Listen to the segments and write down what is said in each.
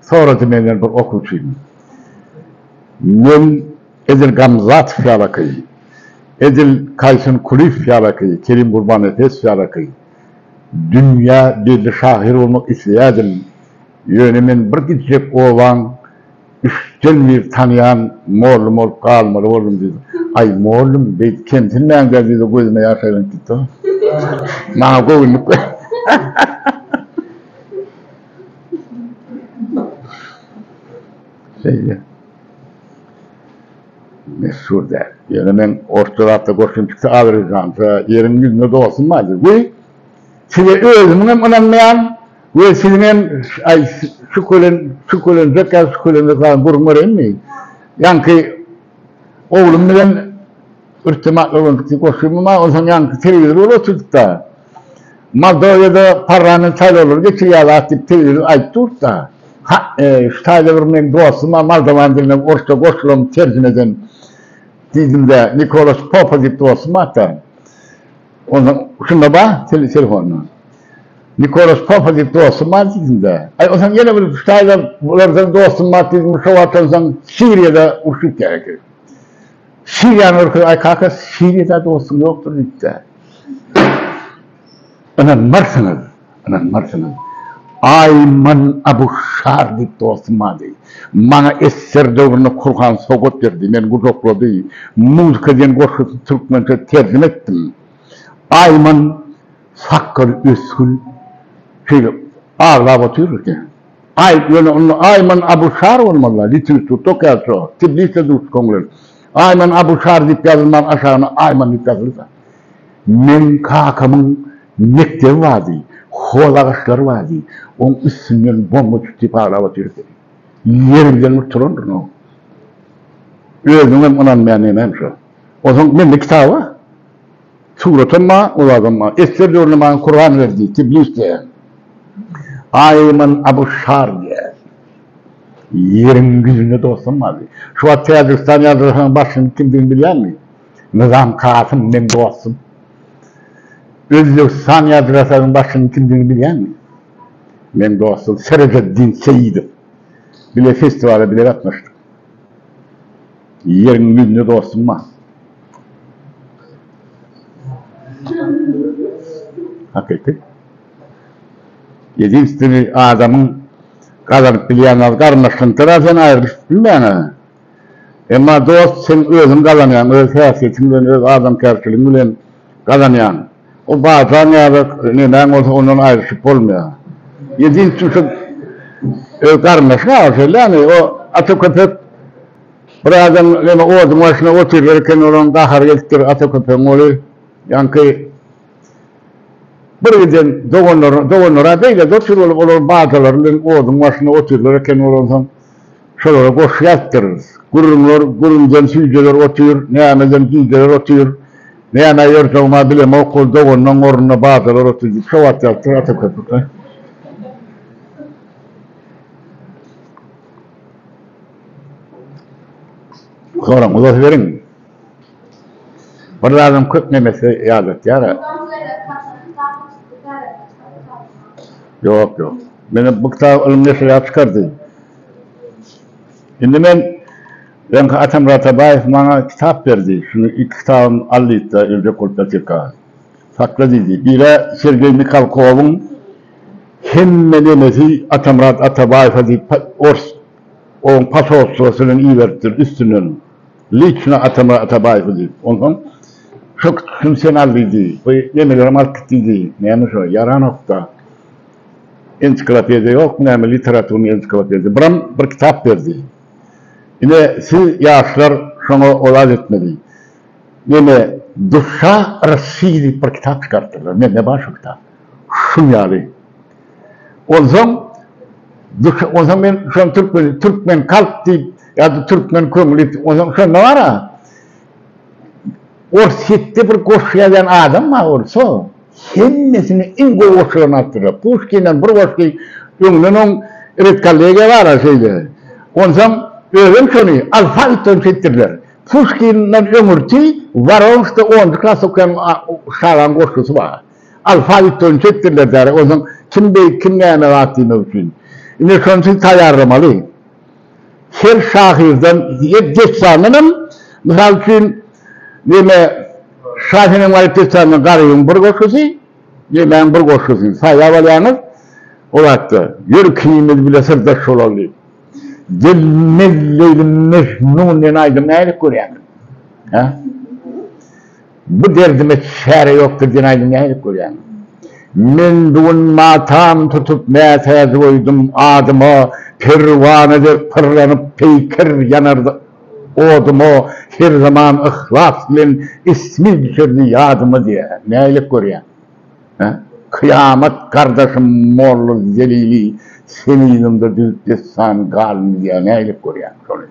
Sorady menden bir okuwçym. Men edil Gamzatow ýalaky, edil Kaýsun Kulyýew ýalaky, Kerim Gurbannepesow ýalaky dünýä belli şahyr bolmak isleýärdim. Ýöne men bir gitjek obaň üçden bir tanaýan mollum bolup galmaly boldum diýdi. Aý, mollum, beýdip kemsinmäň-dä diýdi, gözüme ýaş aýlanyp gitdi. Maňa göwünlik berdi. Şeýle. Meşhur däl. Ýöne men orta zatda görşüm pikse azerbaýjanja ýeriň ýüzünde dostum bar diýip. Weý. Size özümiň hem ynanmaýan we siziň hem aý şükelen şükelenjek ýa şükelenjek zadyň gürrüň bereýinmi? Ýaňky oglum bilen irtibatly bolduk diýip goşdum emma onsoň ýaňky telewizor bolup oturdyk-da. Moldowiýada parlament saýlawlary geçirýärler diýip tebigy aýt durtda. Ha, şu taýda bir meniň dostuma moldowan diline orsça goşulany terjime eden diýdimde, Nikolas Popa diýip dostum bar-da. Onsoň şunda bar, telefonda. Nikolas Popa diýip dostum bar diýdimde. Aý, onsoň ýene bir şu taýda bulardan dostum bar diýdim, şo wagt onsoň Siriýada uruş gitýär eken. Siriýany görkezip, aý kaka, Siriýada dostum ýokdur diýipdi. Ynanmarsyňyz, ynanmarsyňyz, Aýman Abu Şar diýip dostum bardy. Maňa esser döwründe Kurhan sowgat berdi, meni gujaklady. Muzika diýen goşgusyny türkmençe terjime etdim. Aýman sakgaly ösgül şeýle aglap otyr eken. Aý, ýöne onda Aýman Abu Şar bolmazlar, Litwis Tutok ýaly şo, Tiblisde duşup köňlen. Aýman Abushar diýip ýazylman aşagyna Aýman diýip ýazylsa. Meň kakamyň mekdebi bardy, hol agaçlary bardy, oň üstünden bomba düşüp diýip aglap otyrdysy. Ýerinden bir turandyryn oň. Özüňem ynanmaýan nemäň şo. Onsoň mende kitaba. Suratam bar, owazam bar. Esger döwrüne-man Kurbanberdi, Tiblis diýýän. Aýman Abu Şar diýýän. Ýeriň ýüzünde dostum bardy. Şu wagt Täjigistan ýazgyhananyň başlygynyň kimdigini bilýäňmi? Nyzam Kasym meň dostum. Özbegistan ýazgyhasanyň başlygynyň kimdigini bilýäňmi? Meň dostum Serededdin Seýidow. Bile festiwala bile gatnaşdyk. Ýeriň ýüzüne dostum bar. Hakyky. Ýedinstweniý adamyň gazanyp bilýän zady garyndaşlygyňkyra sen aýrylyşyp bilmäň-ä. Emma dost sen özüň gazanýaň, öz häsiýetiň bilen, öz adamkärçiligiň bilen gazanýaň. O bajaň ýa-da nemäň bolsa ondan aýryşyp bolmaýar. Ýedinji tüýsük öz garyndaşyň agyrysy gelýärmi? O ata köpek bir adam ýene oduň başynda oturýar eken, olaň gahary gelipdir, ata köpegiň oly ýaňky bir giden doganlaryna, doganlar-a beýle dost-ýer bolup, olar bajalary bilen oduň başynda oturýar eken, olansoň, Şolara goşgy aýtdyrys. Gürrüňler, gürrüňden süýjeler otyr, nämeden gijeler otyr, nämä ýörseň-a bilemok, ol doganynyň ornuna badalar otyr diýip şo wagt ýazypdyr Ata Köpükli. Soraň, uzasyberiň. Bir zadyň köp nemesi ýadatýar. Ýok, ýok. Meni bu kitap ylym neşirýat çykardy. Indi men öňki Atamyrat Atabaýew maňa kitap berdi. Şuny iki kitabym al diýdi-de, öljek bolup ýatyrka. Sakla diýdi. Biri Sergeý Mihalkowyň Hemme nemesi Atamyrat Atabaýewe diýip ors oň posolstwosy bilen iberipdir üstünden. Liçno Atamyrat Atabaýewe diýip, onsoň şo küçüsini sen al diýdi, bu nemelerem alyp git diýdi. Näme şo, ýaranok-da. Ensiklopediýa ýokmy näme, literaturnyý ensiklopediýa. Biram bir kitap berdi. Ine, siz, ýaşlar, şoňa olat etmeli. Neme, Duşa Rossiýa diýip bir kitap çykarypdyrlar. Mende bar şo kitap. Şuň ýaly. Onsoň onsoň men şony türkmen türkmen kalp diýip ýa-da türkmen köňül diýip onsoň şonda bar-a ors hetde bir goşgy ýazýan adam bar orso hemmesini iň gowy goşgylaryny alyp durýar. Puşkinden bir goşgy öňden oň redkollegiýa bar-a şeýle. Onsoň özem şony alfabetden çekdirdiler. Puşkinden öňürti Waronskda onunjy klas okaýan şalyň goşgusy bar. Alfabet boýunça etdirler däri. Onsoň kim beýik, kim näme zat diýmek üçin. Indi şony siz taýýarlamaly. Her şahyrdan, her dessandan hem, mysal üçin, neme, Şa Senem Garyp dessanynyň Garybyň bir goşgusy, nemäň bir goşgusyny saýlap alýaňyz, o zatda, Ýör ikimiz bile syrdaş bolaly diýip. Gelmez Leýlim Mejnun diýen aýdymy nädip görýäňiz? Hä? Bu derdime çäre ýok gidýän aýdym nähili görýäň. Men bu gün matam tutup mätäji goýdum adyma Perwana dek pyrlanyp peýker ýanardy odyma Her zaman yhlas bilen ismi düşerdi ýadyma diýýär. Nähili görýäň. Hä? Kyýamat gardaşym Molla Zelili Seniňde düzüp dessan galmy diýýär nähili görýäň şony.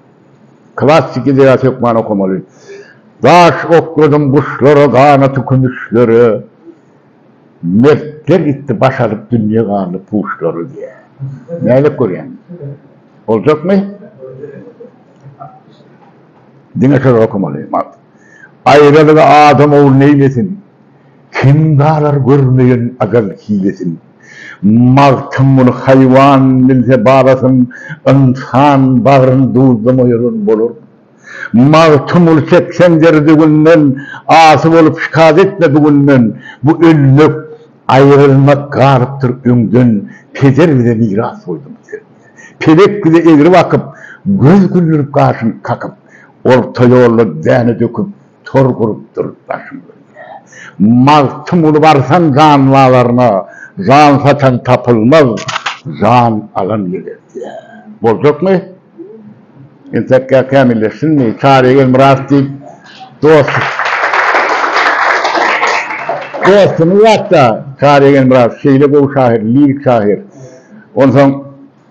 Klassyk ideýa hökman okamaly. Daş okladym guşlara, ganaty kümüşlere, Mertler gitdi baş alyp, dünýe galdy puşlara diýýär. Nädip görýäň? Boljakmy? Diňe şol okamaly. Aýralygy adam ogly neýlesin? Kim galar görmeýän ajal hilesin. Magtym muny haýwan bilse balasyn, ynsan bagryn duzlamaýaram bolar. Magtymguly seksen derdi günden, asy bolup şikayat etme bu günden, bu ölmek, aýrylmak galypdyr öňden, peder bize miras goýduň sen. Pelek bize egri bakyp, göz güldürip gaşyň kakyp, orta ýolda däne döküp, Tor gurup durup başymy öýýä. Magtymguly barsan jan bazaryna, jan satan tapylmaz, jan alan gebertýär. Boljakmy? Entekkä kämilleşsinmi? Çary Gelmyrat diýip dos dostumyz bar-da, Çary Gelmyrat şeýle gowy şahyr, lirik şahyr. Onsoň.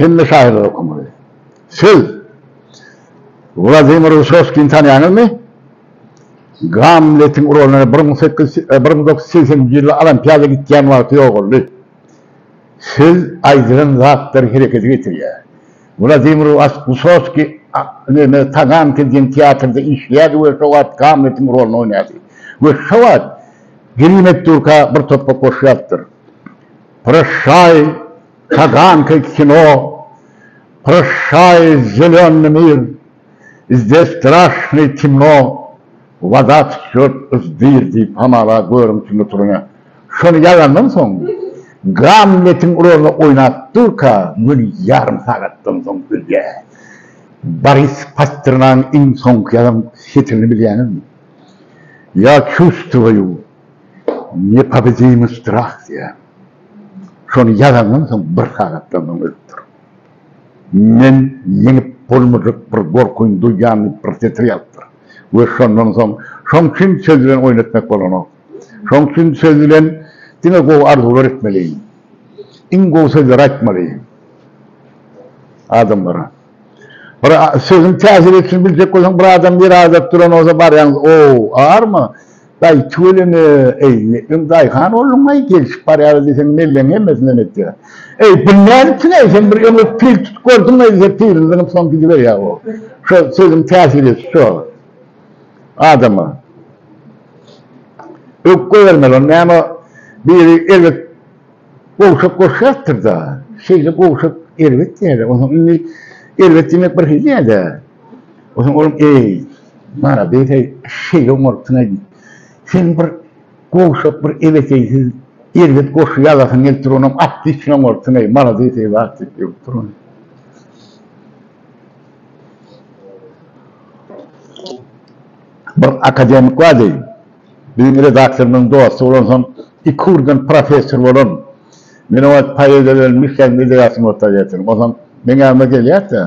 Hemme şahyrlar okamaly. Siz Wladimir Wysoskini tanýaňyzmy? Gamletiň rolyny bir müň sekiz ýüz bir müň dokuz ýüz segsen nji ýylda Olimpiada gitýän wagty ýogaldy. Siz aýdylan zatlar herekete getirýär. Wladimir Wysoski neme Taganka diýen teatrda işleýärdi we şo wagt Gamletiň rolyny oýnardy. We şo wagt Grim Etdurka bir topbak goşýapdyr. Proşşaý, Taganka kino, Proşşaý, zelönny mir, Zde straşnyý timno, Wada tçýot uz dyr diýip hamala görüň kimde turanyň. Şony ýazandan soň, Gamletiň rolyny oýnap durka müň ýarym sagatdan soň ölýär. Boris Pasternagyň iň soňky ýazan setirini bilýäňizmi? Ýa çuwstwoýu nepobidimy strah diýýän. Şony ýazandan soň bir sagatdan soň ölüpdir. Men ýeňip bolmajak bir gorkyny duýýan diýip bir setir ýazypdyr. We şondan soň şoň üçin söz bilen oýun etmek bolanok. Şoň üçin söz bilen diňe gowy arzuwlar etmeli. Iň gowy sözleri aýtmaly adamlara. Bir sözüm täsir etsin biljek bolsaň bir adam bir adap duran bolsa barýan ow arma daýy tüweleme eý metlem daýhan bolduňaý gelşip barýarys diýseň melleň hemmesinden etýä eý bu nädipsiňaý sen bir öňe pil tutup gördüňaý diýse pilini zyňyp soň gidiberýä ow şo sözüm täsir etdi şo adama ökde bermeli ony näme biri erbet Gowşak goşýarsyr-da, şeýle gowşak erbet däl-ä. Onsoň indi erbet diýmek bir hili däl-ä. Onsoň olam, Eý, malades-eý, şeýleň bolupdyn-aý diýip. Sen bir gowşak, bir ebeteýsiz erbet goşgy ýazasyň gelip dur, onam otlişnoň bolupdyn-eý, malades-eý, wah diýip ýöwüp dur ony. Bir akademik bardy. Biziň redaktorymyzyň dosty bolansoň, iki ugurdan professor bolan, men oňa poeziýa bilen Müştägiň edebiýatyny orta ýetirdim. Onsoň meň ýanyma gelýärdi-de,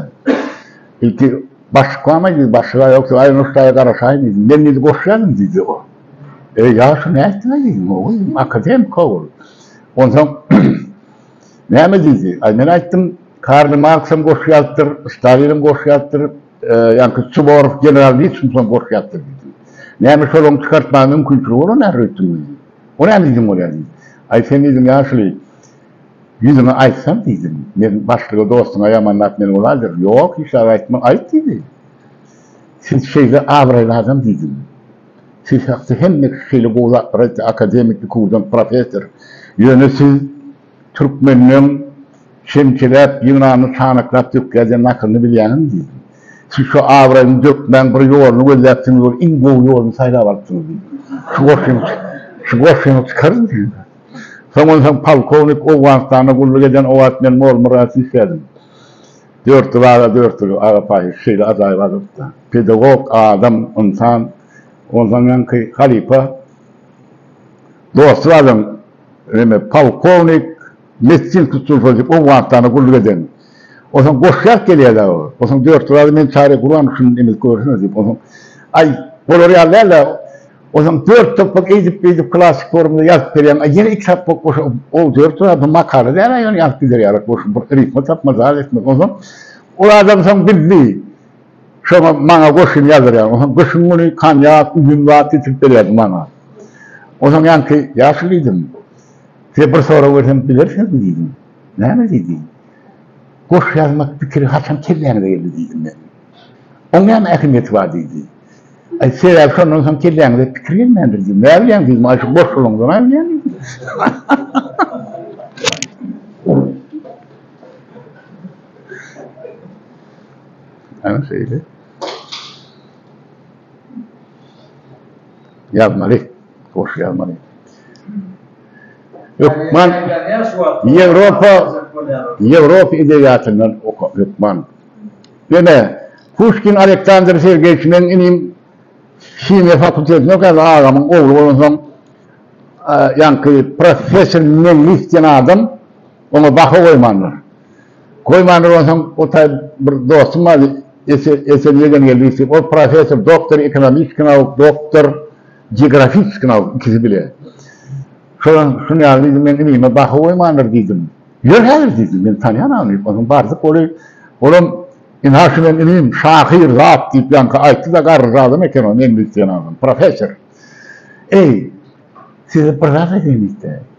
Ilki başlyk barmy diýdi, başlyk-a ýokdy, Aý, Nuştaýa garaşaýyn diýdi. Men diýdi, goşýaryn diýdi oňa. Eý, ýagşy nätdiň-aý diýdim, oý, diýdim, akademik-a ol. Onsoň näme diýdi? Aý, men aýtdym, Karl Marksam goşgy ýazypdyr, Stalinam goşgy ýazypdyr. Ýa-da Suvorow general niçin şondan gorkýardy? Näme şol onuň çykartmaga mümkinçiligi bolan nähili öýtdüň? O näme diýdiň olar diýdi. Aý sen diýdim ýaşuly, ýüzüňe aýtsam diýdim, men başlyga dostuňa ýamanlap meni uladyr. Ýok, hiç zat aýtma, aýt diýdi. Siz şeýle abraýly adam diýdim. Siz hakda hemme kişi şeýle gowy zatlar aýtdy, akademik, ikudan professor. Ýöne siz Türkmenleň çemçeläp, ýygnanyny çanaklap dökýärdiýen nakylyny bilýäňizmi? diýdim. Siz şu abraýyny dökmäň bir ýoluny gözläpsiňiz ol iň gowy ýoluny saýlap alypsyňyz diýdim. Şu goşgyňy şu goşgyňy çykaryň diýdim. Soň onsoň polkownik Owganystanda gulluk eden owaat men Molmyrasy işlädim. Dört ýyl aga dört ýyl aga paýhas şeýle ajaýyp adamda. Pedagog, adam, ynsan. Onsoňňanky halypa dosty bar adam. Remy, polkownik Mettin tutulsa diýip Owganystana gulluk eden. Onsoň goşýar gelýär dagy. Onsoň dört ýyl ady meni çaryp gurban şuny imiz görsene diýip. Onsoň aý bolar ýaly däl-ä. Onsoň dört sapak eýdip-beýdip klassyk formada ýazyp berýän. Aý ýene iki sapak goşa ol dört ýyl ady makala däl-ä ýöne ýazyp giderýär goşup bir rifma tapmaz zat etmez. Onsoň ol adam soň bildi. Şoňa maňa goşun ýazdyrýardy. Onsoň gyşyň güni konýak, üzüm zat getirip berýärdi maňa. Onsoň ýaňky, Ýaşuly diýdim, size bir sorag bersem bilersiňizmi diýdim. Näme diýdi? Goşgy ýazmak pikiri haçan kelläňize geldi diýdim men. Oň näme ähmiýeti bar diýdi. Aý, sebäbi şondan soň kelläňize pikir gelmändir diýdim. Näbilýäň diýdim, aý şu goşgylaňdan aýylýan diýdim. Ana şeýle. Ýazmaly. Hoş ýazmaly. Hökman Ýewropa Ýewropa edebiýatyndan oka hökman. Ýene Puşkin Aleksandr Sergeýewiç men inim himiýa fakultetinde okaýardy agamyň ogly bolansoň ýaňky professor Meňlis diýen adam oňa baha goýmandyr. Goýmandyr onsoň ol taýy bir dostum bardy Esen Ýegengeldi diýip ol professor doktor ekonomiski nauk doktor geografiski nauk ikisi bile şolam şuny al diýdi men inime baha goýmandyr diýdim ýör häzir diýdi men tanýan ony diýip onsoň bardyk ol olam indi ha şu men inim şahyr zat diýip ýaňky aýtdy da garryja adam eken o neňli diýen adam professor eý size bir zat aýdaýyn diýdi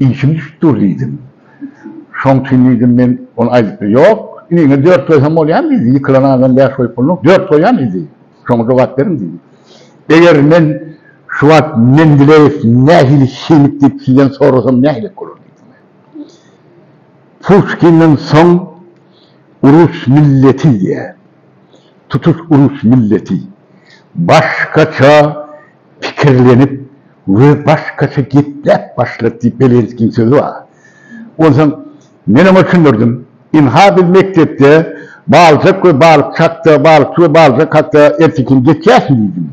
Işim düşüp dur diýdim. Şoň üçin diýdim men ony aýdypdy. Ýok, iniňe dört goýsam bolýamy diýdi. Ýykylan adam bäş goýup bolmaz. Dört goýýan diýdi. Şoňa jogap beriň diýdi. Eger men şu wagt Mendileýew nähili himik diýip sizden sorasam nähilek bolar diýdim men. Puşkinden soň rus milleti diýýär. Tutuş rus milleti. Başgaça Pikirlenip we başgaça gepläp başlat diýip Belenskiň sözi bar. Onsoň men oňa düşündirdim. Ynha biz mekdepde Baljak we balykçy hakda, balykçy we Baljak hakda ertekin geçýärsiň diýdim.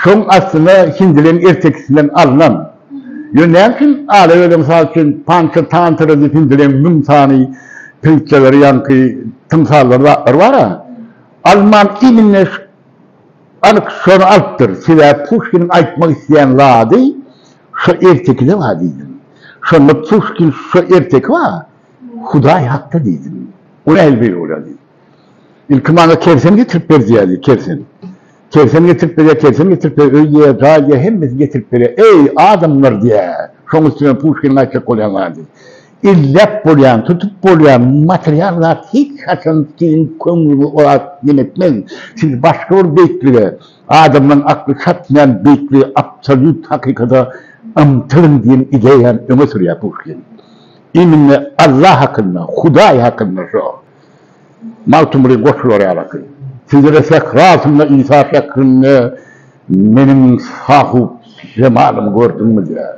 Şoň aslynda hindileň ertekisinden alnan. Ýöne näme üçin Alewede mysal üçin Pança Tantra diýip hindileň müň sany pritsýalary ýaňky tymsallary zatlary bar-a. Alman imine Anyk şony alypdyr, sebäbi Puşkiniň aýtmak isleýän zady şo ertekide-wa diýdim. Şonda Puşkin şo erteki-wa Hudaý hakda diýdim. O nähili beýle bolýardy? Ilki maňa kersen getirip ber diýýärdi, kersen. Kersen getirip berýär, kersen getirip berýär, öý diýýär, jaý diýýär, hemmesini getirip berýär. Eý, adamlar diýýär. Şoň üstüne Puşkiniň aýtjak bolýan zady. Elläp bolýan, tutup bolýan material zat hiç haçan siziň köňlüňizi ora ýönetmez. Siz başga bir beýiklige, adamlaryň akly çatmaýan beýiklige, absolýut hakykata ymtylyň diýen ideýany öňe sürýär Puşkin. Immine Allah hakynda, Hudaý hakynda şo Magtymguly goşgulary ýalaky. Sizlere sähra altynda Isa şeklinde meniň Sahup jemalymy gördüňmizä?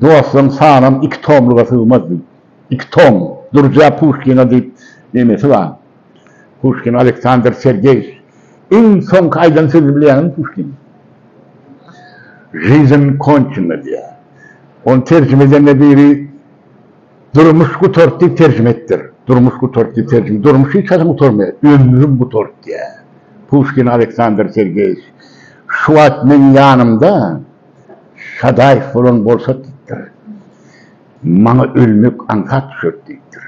Dostuň sanam iki tomluga sygmaz diý. Iki tom. Durja Puşkina diýip nemesi bar. Puşkin Aleksandr Sergeýiç. Iň soňky aýdan sözüni bilýäňizmi Puşkiniň? Žizn konçena diýýär. Ony terjime edende biri Durmuş gutart diýip terjime etdir. Durmuş gutart diýip terjime. Durmuş hiç haçan gutarmaýar. Ömrüm gutart diýýär. Puşkin Aleksandr Sergeýiç. Şu wagt meň ýanymda. Sadaýew bolan bolsa diýipdir. Maňa ölmek aňsat düşer diýipdir.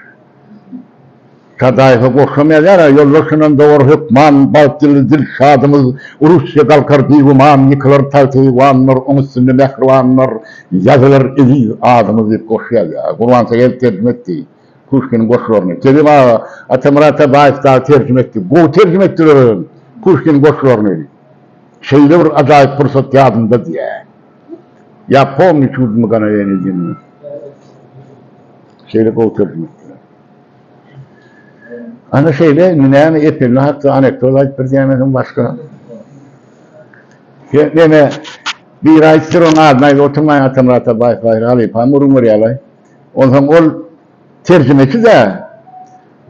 Sadaýewe goşamaýar ýara, ýollar şondan dowar hökman, Bagt ýyldy Dilşadymyz, Russiýa galkar bigüman, Ýykylar tagty eýwanlar, oň üstünde mähribanlar, Ýazylar eziz adymyz diýip goşýar ýa. Gurbansegel terjime etdi Puşkiniň goşgularyny. Kerim aga Atamyrat Abaýew dagy terjime etdi. Gowy terjime etdiler özem Puşkiniň goşgularyny. Şeýle bir ajaýyp pursat ýadymda diýýär. Ýa pomni çudno mganoýenie diýen şeýle gowy terjime etdiler. Ana şeýle indi näme epilme hakda anekdot aýdyp bir diýmeseň başga. Ýa näme bir aýtdyr onuň adyny aýdyp oturmaýyn Atamyrat Abaýew baýry halypamy urun görýärlaý. Onsoň ol Terjimeçi-de,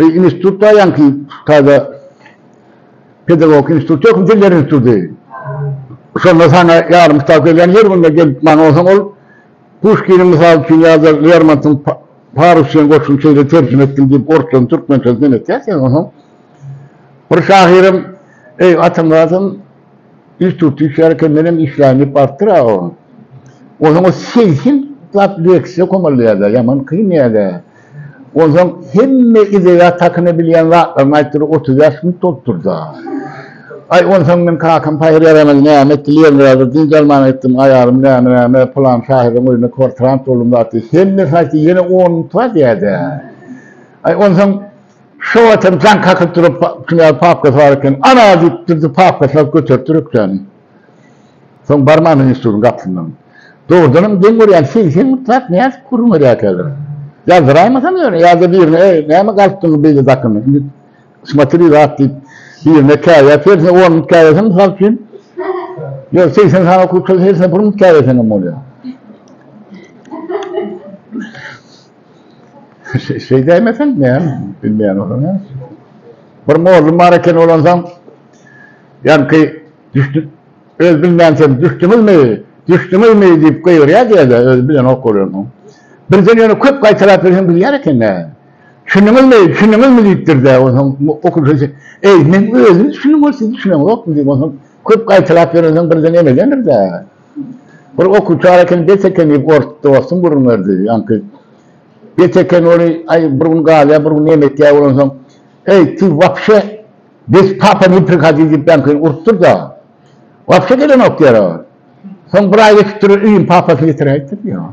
bu institutda ýaňky taze pedagogik institut ýok, diller instituty. Şonda saňa ýarym kitap gelýän, her günde gelip maňa onsoň ol Puşkiniň, mysal üçin, ýa-da Lermontyň Parus diýen goşgyny şeýle terjime etdim diýip, orsçadan türkmençesine neneýär sen onsoň? Bir şahyrym, Eý, Atamyratam, Üç tutuş ýarkenden hem işlän diýip barpdyr aga oň. Onsoň o segsen zat leksiýa komalýar-da, ýaman kyn ýa-da. Onsoň hemme edebiýat hakynda bilýän zatlaryny aýtdyr, otuz bäş gün tolupdyr-da. Aý, onsoň men kakam paýhar ýaramady, näme etdi, Leningradyr, dynç almaga gitdim, aýalym näme-näme, pylan şahyryň öýünde kwartirant boldum zat diýdi. Hemmesini aýtdy, ýene on gün tura diýýär-dä. Aý, onsoň. Şo wagt hem jaň kakyp durup, Knýaz papkasy bar eken, Ana! diýip, Dürdi papkasyny alyp göteripdir ökjäni. Soň barmandan institutyň gapysyndan, Dogrudan hem geň görýän segsen müň zat nädip gürrüň berýärkäler? Ýazdyraýmasam ýöne, ýa-da birine, Eý, näme galypdyňmy beýle dakyn, indi smotri zat diýip, birine käýäp, hersine on müň käýäseň, mysal üçin, ýöne segsen sany okuwçylar hersine bir müň käýäseňem bolýar. Şeý däýmeseň, näm, bilmeýän bolsaň näme etjek? Bir mollum bar eken, ol onsoň, ýaňky düşdi, öz bilmänçäm, Düşdüňizmi, düşdüňizmi? diýip gygyrýar diýerler, özi bilenok ol ony. Birden ýöne köp gaýtalap ýörsen bilýär eken-dä. Düşündiňizmi, düşündiňizmi diýipdir-de, onsoň okuwçy, Eý, men özüm düşündim, ol siz düşüneňizokmy diýip, onsoň köp gaýtalap ýörensoň birden emedendir-de. Ol okuwçalar eken, bet eken diýip, ors dostum gürrüň berdi. Ýaňky bet eken ol, aý, bir gün galýar, bir gün näme etýär, bolansoň, Eý, ty wapşe bez papa ne prihodi diýip, ýaňky urup dur-da, wapşe gelenok diýär ol. Soň bir aý geçip durur, Iýun papasyny getiräýipdir diýär ol.